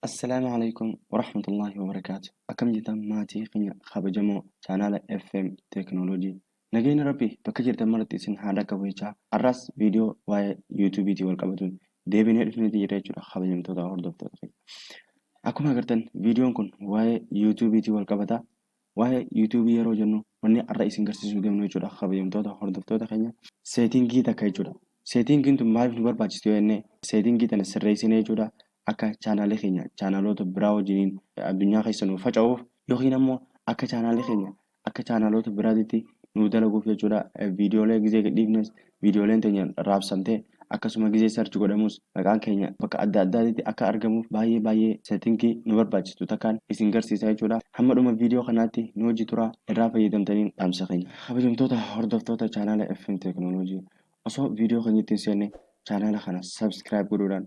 Assalaamu Aleykum Warahmatullaahi Wabarakaatu Akkam jirtan maatii keenya kabajamoo chaanaala FM Teeknooloojii Nageenyi Rabbi bakka jirtan maratti isin haa dhaqqabu jechaa har'aas viidiyoo waa'ee yuutuubiitiin wal qabatuun deebinee dhufneeti jirra jechuudha kabajamtoota hordoftoota keenya. Akkuma agartan viidiyoon kun waa'ee yuutuubiitiin wal qabata Waa'ee YouTube yeroo jennu wanni har'a isin garsiisuu deemnu jechuudha kabajamtoota hordoftoota keenya seetingii takka jechuudha. Seetingiin tun maaliif nu barbaachisti yoo jenne seetingii tana sirreessinee jechuudha akka chaanaalii keenya chaanaaloota biraa wajjiniin addunyaa keessa nuuf faca'uuf yookiin ammoo akka chaanaalii keenya akka chaanaaloota biraatitti nuuf dalaguuf jechuudha viidiyoolee gizee gadhiifnes Viidiyooleen teenya raabsamte akkasuma gizee search godhamus maqaan keenya bakka adda addaatitti akka argamuuf baay'ee baay'ee settingii nu barbaachistu takkaan isin garsiisa jechuudha. Hamma dhuma viidiyoo kanaatti nu wajji turaa irraa fayyadamtaniin dhaamsa keenya. Kabajamtoota hordoftoota chaanaala FM Teeknooloojii osoo viidiyoo keenyatti hin seenne chaanaala kana subscribe godhuudhaan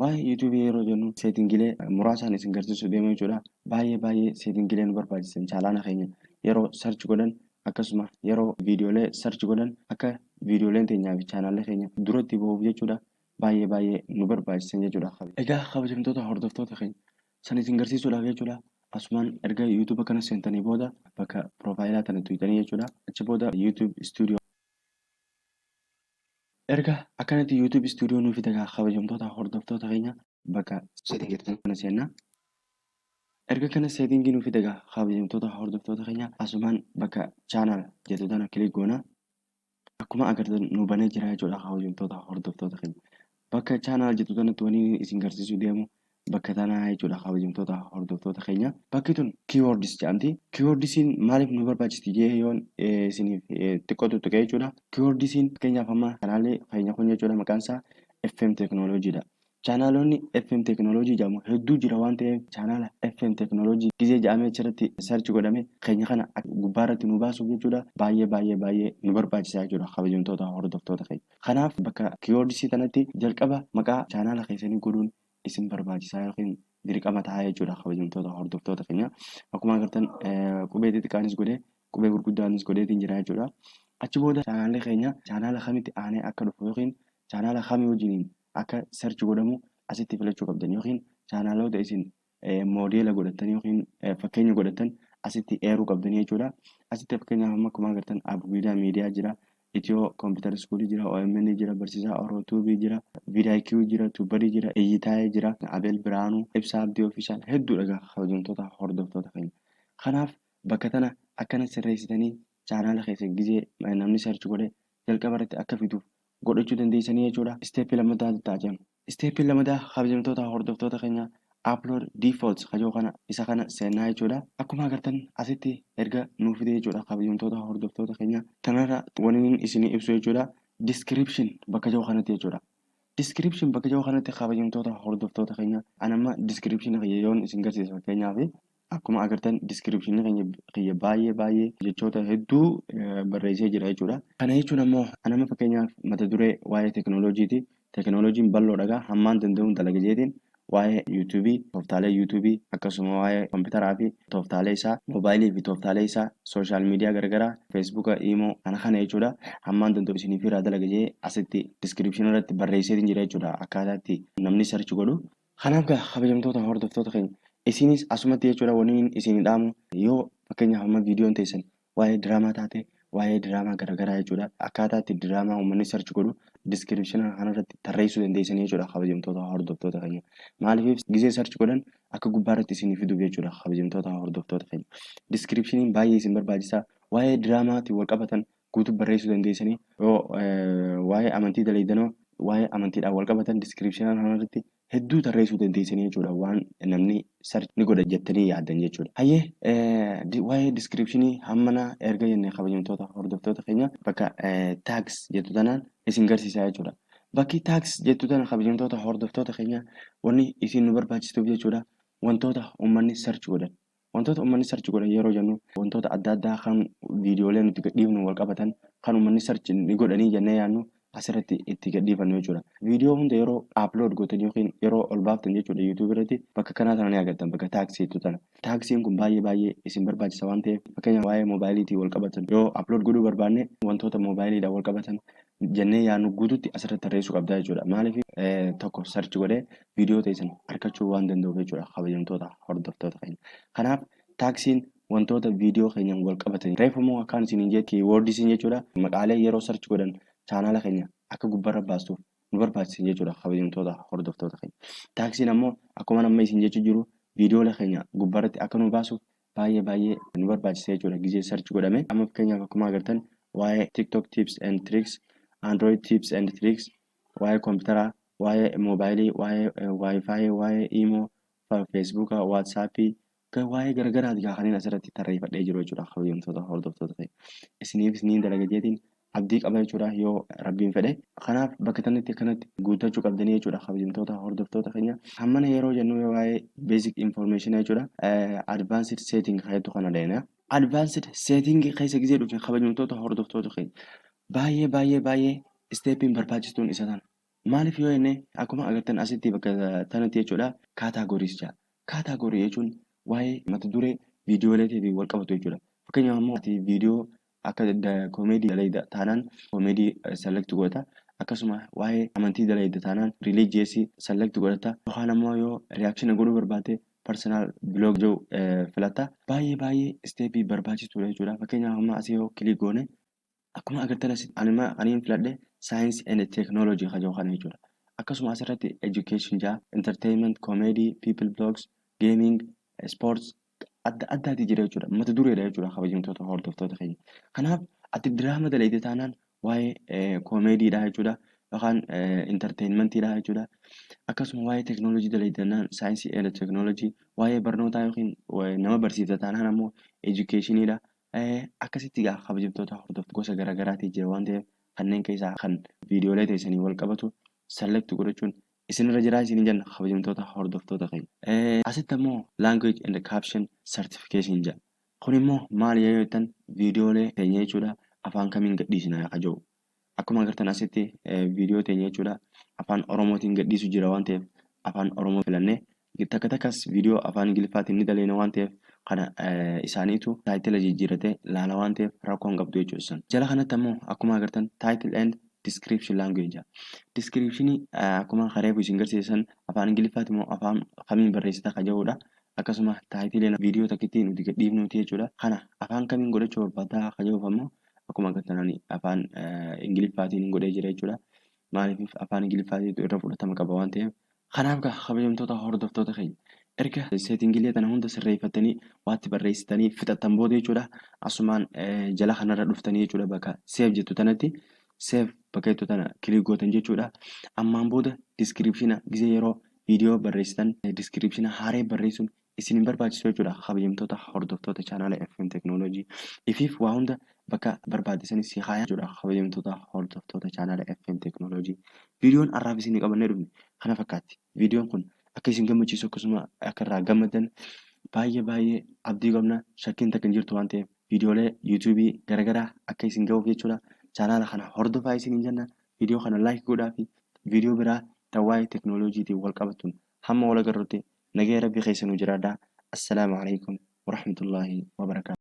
Waa'ee YouTube yeroo jennu seetingilee muraasaan isin garsiisuu deema jechuudha. Baay'ee baay'ee seetingilee nu barbaachisan chaalaana keenya yeroo search godhan akkasuma yeroo viidiyoolee search godhan akka viidiyooleen teenyaa fi chaanaalli keenya duratti bahuuf jechuudha. Baay'ee baay'ee nu barbaachisan jechuudha. Egaa kabajamtoota hordoftoota keenya san isin garsiisuudhaaf jechuudha. Asumaan erga YouTube kana seentanii booda bakka piroofaayilaa tana tuqxanii jechuudha. Achi booda YouTube Studio Erga akkanatti YouTube studio nuuf fida gaa kabajamtoota hordoftoota keenya bakka setting jettan kana seennaa. Erga kana setting nuuf fida gaa kabajamtoota hordoftoota keenya asumaan bakka channel jettu tana click goona. Akkuma agartan nu banee jira jechuudha kabajamtoota hordoftoota keenya. Bakka channel jettu tanatti waniin isin garsiisuu deemu bakka tanaa jechuudha kabajamtoota hordoftoota keenya. Bakki tun keywords jedhamti. Keywordsiin maaliif nu barbaachisti jee yoon isiniif xiqqoo tuttuqee jechuudha. Keywordsiin fakkeenyaaf amma chaanaalii keenya kun jechuudha maqaan isaa FM Technology dha. Chaanaalonni FM Technology jedhamu hedduu jira waan ta'eef chaanaala FM Technology gizee jedhamee achirratti search godhame keenya kana gubbaa irratti nu baasuuf jechuudha baay'ee baay'ee baay'ee nu barbaachisa jechuudha kabajamtoota hordoftoota keenya. Kanaaf bakka keywords tanatti jalqaba maqaa chaanaala keessanii godhuun isin barbaachisaa yookiin dirqama tahaa jechuudha kabajamtoota hordoftoota keenya. Akkuma agartan qubee xixiqqaanis godhee qubee gurguddaanis godheetiin jira jechuudha. Achi booda chaanaalli keenya chaanaala kamitti aanee akka dhufu yookiin chaanaala kamii wajjiniin akka search godhamu asitti filachuu qabdan yookiin chaanaaloota isin moodeela godhattan yookiin fakkeenya godhattan asitti eeruu qabdanii jechuudha. Asitti fakkeenyaaf amma akkuma agartan Abguidaa miidiyaa jira. Itiyoo kompiitara iskuulii jira, OMN jira, Barsiisaa Oroo Tuubii jira, Vidaayikiyu jira, Tuubadii jira, Iyyitaayee jira, Abeel Biraanuu, Ibsaa Abdii Ofiishaal hedduudha egaa kabajamtoota hordoftoota keenya. Kanaaf bakka tana akkana sirreessitanii chaanaala keessan gizee namni search godhee jalqaba irratti akka fiduuf godhachuu dandeessanii jechuudha. Step lammataa ta'a jenna. Step lammataa kabajamtoota hordoftoota keenya upload defaults kajoo kana isa kana seennaa jechuudha. Akkuma agartan asitti erga nuu fide jechuudha kabajamtoota hordoftoota keenya. Tanarra waniin isinii ibsu jechuudha. Description bakka jiru kanatti jechuudha. Description bakka jiru kanatti kabajamtoota hordoftoota keenya. Anamma description kiyya yoon isin garsiisu fakkeenyaaf Akkuma agartan description keenya kiyya baay'ee baay'ee jechoota hedduu barreessee jira jechuudha. Kana jechuun ammoo anama fakkeenyaaf mata duree waa'ee tekinooloojiiti. Tekinooloojiin bal'oodha egaa hammaan danda'uun dalaga jeetiin waa'ee YouTube, tooftaalee YouTube akkasuma waa'ee kompiitaraa fi tooftaalee isaa, moobaayilii fi tooftaalee isaa, sooshaal miidiyaa garagaraa, feesbuuka, iimoo kana kana jechuudha. Hammaan danda'u isiniif irraa dalaga jee asitti description irratti barreesseetiin jira jechuudha. Akkaataa itti namni search godhu Kanaaf gaa kabajamtoota hordoftoota keenya isinis asumatti jechuudha waniin isin dhaamu yoo fakkeenyaaf amma viidiyoon teessan waa'ee diraamaa taate waa'ee diraamaa garagaraa jechuudha akkaataa itti diraamaa uummanni search godhu description kanarratti tarreessuu dandeessanii jechuudha kabajamtoota hordoftoota keenya maaliif gizee search godhan akka gubbaarratti isin fiduuf jechuudha kabajamtoota hordoftoota keenya descriptioniin baay'ee isin barbaachisaa waa'ee diraamaatiin wal qabatan guutuu barreessuu dandeessanii yoo waa'ee amantii daleeydanoo waa'ee amantiidhaan wal qabatan diskiripshinaan kanarratti hedduu tarreessuu dandeessanii jechuudha waan namni sarchi ni godha jettanii yaaddan jechuudha. Hayyee waa'ee diskiripshinii hammana erga jennee kabajamtoota hordoftoota keenya bakka taags jettu tanaan isin garsiisaa jechuudha. Bakki taags jettu tana kabajamtoota hordoftoota keenya wanni isin nu barbaachistuuf jechuudha wantoota uummanni sarchi godhan Wantoota ummanni search godhan yeroo jennu wantoota adda addaa kan viidiyoolee nuti gadhiifnu wal qabatan kan ummanni search ni godhanii jennee yaadnu asirratti itti gadhiifannu jechuudha. Viidiyoo hunda yeroo upload gootan yookiin yeroo ol baaftan jechuudha YouTube irratti bakka kanaa tana ni agartan bakka taaksiitu tana. Taaksiin kun baay'ee baay'ee isin barbaachisa waan ta'eef fakkeenyaaf waa'ee moobaayiliitiin wal qabatan yoo upload godhuu barbaanne wantoota moobaayiliidhaan wal qabatan jennee yaannu guututti asirratti tarreessuu qabdaa jechuudha. Maaliif tokko search godhee viidiyoo teessan argachuu waan danda'uuf jechuudha kabajamtoota hordoftoota keenya. Kanaaf taaksiin wantoota viidiyoo keenyaan wal qabatan reefu immoo akkaan isin hin jee kiiwoordisiin jechuudha maqaalee yeroo search godhan chaanaala keenya akka gubbarra baastuuf nu barbaachisan jechuudha kabajamtoota hordoftoota keenya. Taaksiin ammoo akkuma amma isin jechuu jiru viidiyoolee keenya gubbarratti akka nu baasuuf baay'ee baay'ee nu barbaachisa jechuudha gizee search godhame amma fakkeenyaaf akkuma agartan waa'ee tiktok tips and tricks android tips and tricks waa'ee koompitaraa waa'ee moobaayilii waa'ee waayifaayii waa'ee iimoo feesbuuka waatsaappii waa'ee garagaraati gaa kanneen asirratti tarreeffadhee jiru jechuudha kabajamtoota hordoftoota ta'e isiniifis niin dalaga jeetiin abdii qaba jechuudha yoo rabbiin fedhe kanaaf bakka tanatti akkanatti guuttachuu qabdanii jechuudha kabajamtoota hordoftoota keenya hammana yeroo jennu yoo waa'ee basic information jechuudha advanced setting jettu kana deena advanced setting keessa gizee dhufne kabajamtoota hordoftoota keenya baay'ee baay'ee baay'ee isteepiin barbaachistuun isa tana maaliif yoo jenne akkuma agartan asitti bakka tanatti jechuudha kaataagoriis jaa kaataagorii jechuun waa'ee mata duree viidiyoolee fi wal qabatu jechuudha fakkeenyaaf immoo viidiyoo Akka comedy dalayda taanan comedy select godhata. Akkasuma waa'ee amantii dalayda taanan religious select godhata. Yookaan ammoo yoo reaction godhuu barbaadde personal blog jedhu filatta. Baay'ee baay'ee step barbaachisuudha jechuudha. Fakkeenyaaf amma asii yoo click goone akkuma agartan asitti anima aniin filadhe science and technology kan jedhu kana jechuudha. Akkasuma asirratti education jaa entertainment comedy people blogs gaming sports adda addaati jira jechuudha. Mata dureedha jechuudha kabajamtoota hordoftoota keenya. Kanaaf ati diraama dalayde taanaan waa'ee koomeediidha jechuudha. Yookaan intarteenmentiidha jechuudha. Akkasuma waa'ee teeknooloojii dalayde taanaan saayinsii eela teeknooloojii, waa'ee barnootaa yookiin nama barsiifta taanaan ammoo edukeeshiniidha. Akkasitti egaa kabajamtoota hordoftoota gosa garaagaraati jira waan ta'eef kanneen keessaa kan viidiyoolee teessanii wal qabatu select godhachuun isinirra jira isin jenna kabajamtoota hordoftoota keenya. Asitti ammoo language and caption certification jedha. Kun immoo maali yoo jettan viidiyoolee teenya jechuudha afaan kamiin gadhiisina ka jedhu. Akkuma agartan asitti viidiyoo teenya jechuudha afaan Oromootiin gadhiisu jira waan ta'eef afaan Oromoo filannee Takka takkas viidiyoo afaan Ingiliffaatiin ni daleena waan ta'eef kana isaaniitu taayitila jijjiirratee laala waan ta'eef rakkoo hin qabdu jechuudha isaan. Jala kanatti ammoo akkuma agartan title and description language description akkuma kareefu isin garsiisan afaan Ingiliffaati immoo afaan kamiin barreessita ka jedhudha. Akkasuma taayitileen viidiyoo takkitti nuti gadhiifnuuti jechuudha. Kana afaan kamiin godhachuu barbaaddaa ka jedhuuf ammoo akkuma agartan ani afaan Ingiliffaatiin godhee jira jechuudha. Maaliif afaan Ingiliffaatiitu irra fudhatama qaba waan ta'eef Kanaaf gaa kabajamtoota hordoftoota keenya erga seetingilee tana hunda sirreeffattanii waatti barreessitanii fixattan booda jechuudha asumaan jala kanarra dhuftanii jechuudha bakka seef jettu tanatti seef bakka jettu tana kilik gootan jechuudha ammaan booda diskiripshina gizee yeroo viidiyoo barreessitan diskiripshina haaree barreessuun isin hin barbaachisu jechuudha kabajamtoota hordoftoota chaanaala FM Technology ifiif waa hunda bakka barbaadisanii si kaaya jechuudha kabajamtoota hordoftoota chaanaala FM Technology viidiyoon har'aaf isin qabannee dhufne kana fakkaatti viidiyoon kun akka isin gammachiisu akkasuma akka irraa gammaddan baay'ee baay'ee abdii qabna shakkiin takka hin jirtu waan ta'eef viidiyoolee yuutuubii garaagaraa akka isin ga'uuf jechuudha chaanaala kana hordofaa isin hin jenna viidiyoo kana laayik godhaa fi viidiyoo biraa tawaa'ee teknooloojiitiin wal qabatuun hamma wal agarrutti Nagaya rabbi keessa nuu jiraadha Assalaamu Aleykum Warahmatullahi Wabarakatuh.